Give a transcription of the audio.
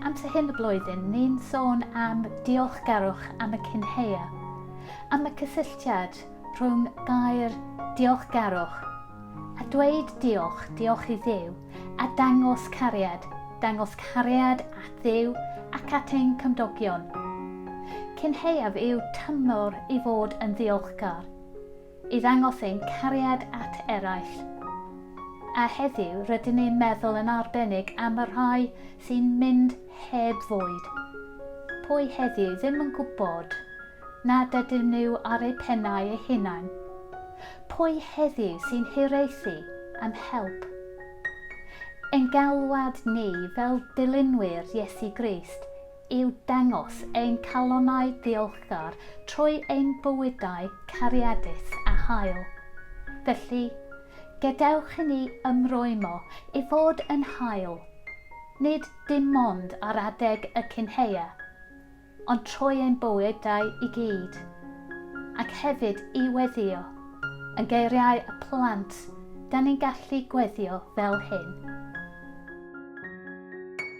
Amser hyn y blwyddyn, ni'n sôn am diolchgarwch am y cynheia, am y cysylltiad rhwng gair diolchgarwch a dweud diolch, diolch i Dduw, a dangos cariad, dangos cariad at Dduw ac at ein cymdogion. Cynheuaf yw tymor i fod yn ddiolchgar. i ddangos ein cariad at eraill. A heddiw, rydyn ni'n meddwl yn arbennig am y rhai sy'n mynd heb fwyd. Pwy heddiw ddim yn gwybod nad ydyn nhw ar eu pennau eu hunain? Pwy heddiw sy'n hiraethu am help? Ein galwad ni fel dilynwyr Iesu Grist yw dangos ein calonnau diolchgar trwy ein bywydau cariadus a hael. Felly, gadewch i ni ymrwymo i fod yn hael, nid dim ond ar adeg y cynheia, ond trwy ein bywydau i gyd, ac hefyd i weddio, yn geiriau y plant, da ni'n gallu gweddïo fel hyn.